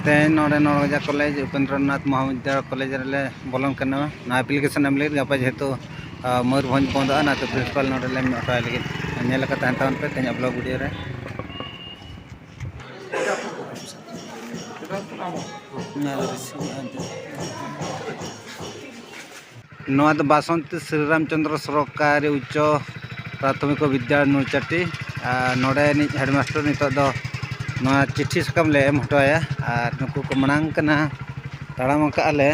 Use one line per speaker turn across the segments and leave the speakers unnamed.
ᱛᱮᱦᱮᱧ ᱱᱚᱰᱮ ᱱᱚᱲᱜᱟᱡᱟ college ᱩᱯᱮᱱᱫᱨᱚᱱᱟᱛᱷ ᱢᱚᱦᱟᱵᱤᱫᱽᱫᱟᱞᱚᱭ college ᱨᱮᱞᱮ ᱵᱚᱞᱚᱱ ᱠᱟᱱᱟ ᱱᱚᱣᱟ ᱮᱯᱞᱤᱠᱮᱥᱚᱱ ᱮᱢ ᱞᱟᱹᱜᱤᱫ ᱜᱟᱯᱟ ᱡᱮᱦᱮᱛᱩ ᱢᱚᱭᱩᱨᱵᱷᱚᱸᱡᱽ ᱵᱚᱱᱫᱚᱜᱼᱟ ᱚᱱᱟᱛᱮ ᱯᱨᱤᱱᱥᱤᱯᱟᱞ ᱱᱚᱰᱮ ᱞᱮ ᱦᱚᱦᱚᱣᱟᱭ ᱞᱟᱹᱜᱤᱫ ᱧᱮᱞ ᱟᱠᱟᱫ ᱛᱟᱦᱮᱱ ᱛᱟᱵᱚᱱ ᱯᱮ ᱛᱮᱦᱮᱧᱟᱜ ᱵᱞᱚᱜᱽ ᱵᱷᱤᱰᱤᱭᱳ ᱨᱮ ᱱᱚᱣᱟ ᱫᱚ ᱵᱟᱥᱚᱱᱛᱤ ᱥᱨᱤ ᱨᱟᱢ ᱪᱚᱱᱫᱨᱚ ᱥᱚᱨᱠᱟᱨᱤ ᱩᱪᱪᱚ ᱯᱨᱟᱛᱷᱚᱢᱤᱠ ᱵᱤᱫᱽᱫᱟᱞᱚᱭ ᱱᱚᱞᱪᱟᱴᱤ ᱟᱨ ᱱᱚᱰᱮ ᱱᱤᱡ ᱦᱮᱰ ᱢᱟᱥᱴᱟᱨ ᱱᱤᱛᱚᱜ ᱫᱚ ᱱᱚᱣᱟ ᱪᱤᱴᱷᱤ ᱥᱟᱠᱟᱢ ᱞᱮ ᱮᱢ ᱦᱚᱴᱚ ᱟᱭᱟ ᱟᱨ ᱱᱩᱠᱩ ᱠᱚ ᱢᱟᱲᱟᱝ ᱠᱟᱱᱟ ᱛᱟᱲᱟᱢ ᱟᱠᱟᱫᱼᱟ ᱞᱮ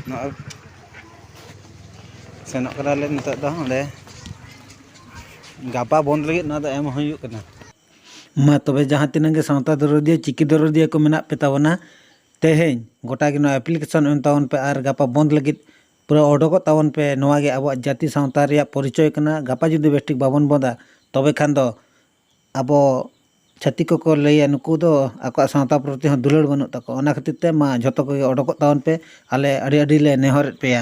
ᱱᱚᱜᱼᱚᱭ ᱥᱮᱱᱚᱜ ᱠᱟᱱᱟ ᱞᱮ ᱱᱤᱛᱚᱜ ᱫᱚ ᱚᱸᱰᱮ ᱜᱟᱯᱟ ᱵᱚᱱᱫᱽ ᱞᱟᱹᱜᱤᱫ ᱱᱚᱣᱟ ᱫᱚ ᱮᱢ ᱦᱩᱭᱩᱜ ᱠᱟᱱᱟ ᱢᱟ ᱛᱚᱵᱮ ᱡᱟᱦᱟᱸ ᱛᱤᱱᱟᱹᱜ ᱜᱮ ᱥᱟᱶᱛᱟ ᱫᱚᱨᱚᱫᱤᱭᱟᱹ ᱪᱤᱠᱤ ᱫᱚᱨᱚᱫᱤᱭᱟᱹ ᱠᱚ ᱢᱮᱱᱟᱜ ᱯᱮ ᱛᱟᱵᱚᱱᱟ ᱛᱮᱦᱮᱧ ᱜᱚᱴᱟ ᱜᱮ ᱱᱚᱣᱟ ᱮᱯᱞᱤᱠᱮᱥᱚᱱ ᱮᱢ ᱛᱟᱵᱚᱱ ᱯᱮ ᱟᱨ ᱜᱟᱯᱟ ᱵᱚᱸᱫᱽ ᱞᱟᱹᱜᱤᱫ ᱯᱩᱨᱟᱹ ᱚᱰᱚᱠᱚᱜ ᱛᱟᱵᱚᱱ ᱯᱮ ᱱᱚᱣᱟ ᱜᱮ ᱟᱵᱚᱣᱟᱜ ᱡᱟᱹᱛᱤ ᱥᱟᱶᱛᱟ ᱨᱮᱭᱟᱜ ᱯᱚᱨᱤᱪᱚᱭ ᱠᱟᱱᱟ ᱜᱟᱯᱟ ᱡᱩᱫᱤ ᱵᱮᱥ ᱴᱷᱤᱠ ᱵᱟᱵᱚᱱ ᱵᱚᱸᱫᱟ ᱛᱚᱵᱮ ᱠᱷᱟᱱ ᱫᱚ ᱟᱵᱚ ᱪᱷᱟᱹᱛᱤᱠ ᱠᱚᱠᱚ ᱞᱟᱹᱭᱟ ᱱᱩᱠᱩ ᱫᱚ ᱟᱠᱚᱣᱟᱜ ᱥᱟᱶᱛᱟ ᱯᱨᱚᱛᱤ ᱦᱚᱸ ᱫᱩᱞᱟᱹᱲ ᱵᱟᱹᱱᱩᱜ ᱛᱟᱠᱚᱣᱟ ᱚᱱᱟ ᱠᱷᱟᱹᱛᱤᱨ ᱛᱮ ᱢᱟ ᱡᱷᱚᱛᱚ ᱠᱚᱜᱮ ᱚᱰᱚᱠᱚᱜ ᱛᱟᱵᱚᱱ ᱯᱮ ᱟᱞᱮ ᱟᱹᱰᱤ ᱟᱹᱰᱤ ᱞᱮ ᱱᱮᱦᱚᱨᱮᱫ ᱯᱮᱭᱟ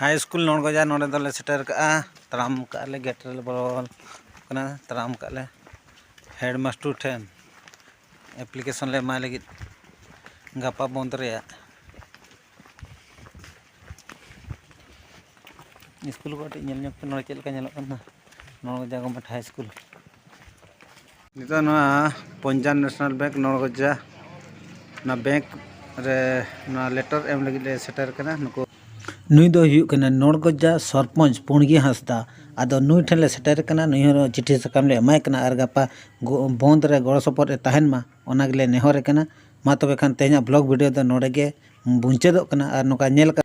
ᱦᱟᱭ ᱤᱥᱠᱩᱞ ᱱᱚᱲᱜᱚᱡᱟ ᱱᱚᱰᱮ ᱫᱚᱞᱮ ᱥᱮᱴᱮᱨ ᱠᱟᱜᱼᱟ ᱛᱟᱲᱟᱢ ᱠᱟᱜᱼᱟ ᱞᱮ ᱜᱮᱴ ᱨᱮᱞᱮ ᱵᱚᱞᱚ ᱠᱟᱱᱟ ᱛᱟᱲᱟᱢ ᱠᱟᱜᱼᱟ ᱞᱮ ᱦᱮᱰ ᱢᱟᱥᱴᱟᱨ ᱴᱷᱮᱱ ᱮᱯᱞᱤᱠᱮᱥᱚᱱ ᱞᱮ ᱮᱢᱟᱭ ᱞᱟᱹᱜᱤᱫ ᱜᱟᱯᱟ ᱵᱚᱱᱫᱷ ᱨᱮᱭᱟᱜ ᱤᱥᱠᱩᱞ ᱠᱚ ᱠᱟᱹᱴᱤᱡ ᱧᱮᱞ ᱧᱚᱜᱽ ᱯᱮ ᱱᱚᱰᱮ ᱪᱮᱫ ᱞᱮᱠᱟ ᱧᱮᱞᱚᱜ ᱠᱟᱱᱟ ᱱᱚᱲᱜᱚᱡᱟ ᱜᱚᱵᱷᱢᱮᱱᱴ ᱦᱟᱭ ᱤᱥᱠᱩᱞ ᱱᱤᱛᱚᱜ ᱱᱚᱣᱟ ᱯᱚᱧᱡᱟᱵᱽ ᱱᱮᱥᱱᱟᱞ ᱵᱮᱝᱠ ᱱᱚᱲᱜᱚᱡᱟ ᱚᱱᱟ ᱵᱮᱝᱠ ᱨᱮ ᱱᱚᱣᱟ ᱞᱮᱴᱟᱨ ᱮᱢ ᱞᱟᱹᱜᱤᱫ ᱞᱮ ᱥᱮᱴᱮᱨ ᱠᱟᱱᱟ ᱱᱩᱠᱩ ᱱᱩᱭ ᱫᱚᱭ ᱦᱩᱭᱩᱜ ᱠᱟᱱᱟ ᱱᱚᱲᱜᱚᱡᱟ ᱥᱚᱨᱯᱚᱧᱡᱽ ᱯᱩᱬᱜᱤ ᱦᱟᱸᱥᱫᱟ ᱟᱫᱚ ᱱᱩᱭ ᱴᱷᱮᱱ ᱞᱮ ᱥᱮᱴᱮᱨ ᱠᱟᱱᱟ ᱱᱩᱭ ᱦᱚᱸ ᱪᱤᱴᱷᱤ ᱥᱟᱠᱟᱢ ᱞᱮ ᱮᱢᱟᱭ ᱠᱟᱱᱟ ᱟᱨ ᱜᱟᱯᱟ ᱵᱚᱸᱫᱽ ᱨᱮ ᱜᱚᱲᱚ ᱥᱚᱯᱚᱦᱚᱫ ᱮ ᱛᱟᱦᱮᱱ ᱢᱟ ᱚᱱᱟ ᱜᱮᱞᱮ ᱱᱮᱦᱚᱨᱮ ᱠᱟᱱᱟ ᱢᱟ ᱛᱚᱵᱮ ᱠᱷᱟᱱ ᱛᱮᱦᱮᱧᱟᱜ ᱵᱞᱚᱜᱽ ᱵᱷᱤᱰᱤᱭᱳ ᱫᱚ ᱱᱚᱰᱮ ᱜᱮ ᱢᱩᱪᱟᱹᱫᱚᱜ ᱠᱟᱱᱟ ᱟᱨ ᱱᱚᱝᱠᱟ ᱧᱮᱞ ᱠᱟᱛᱮᱫ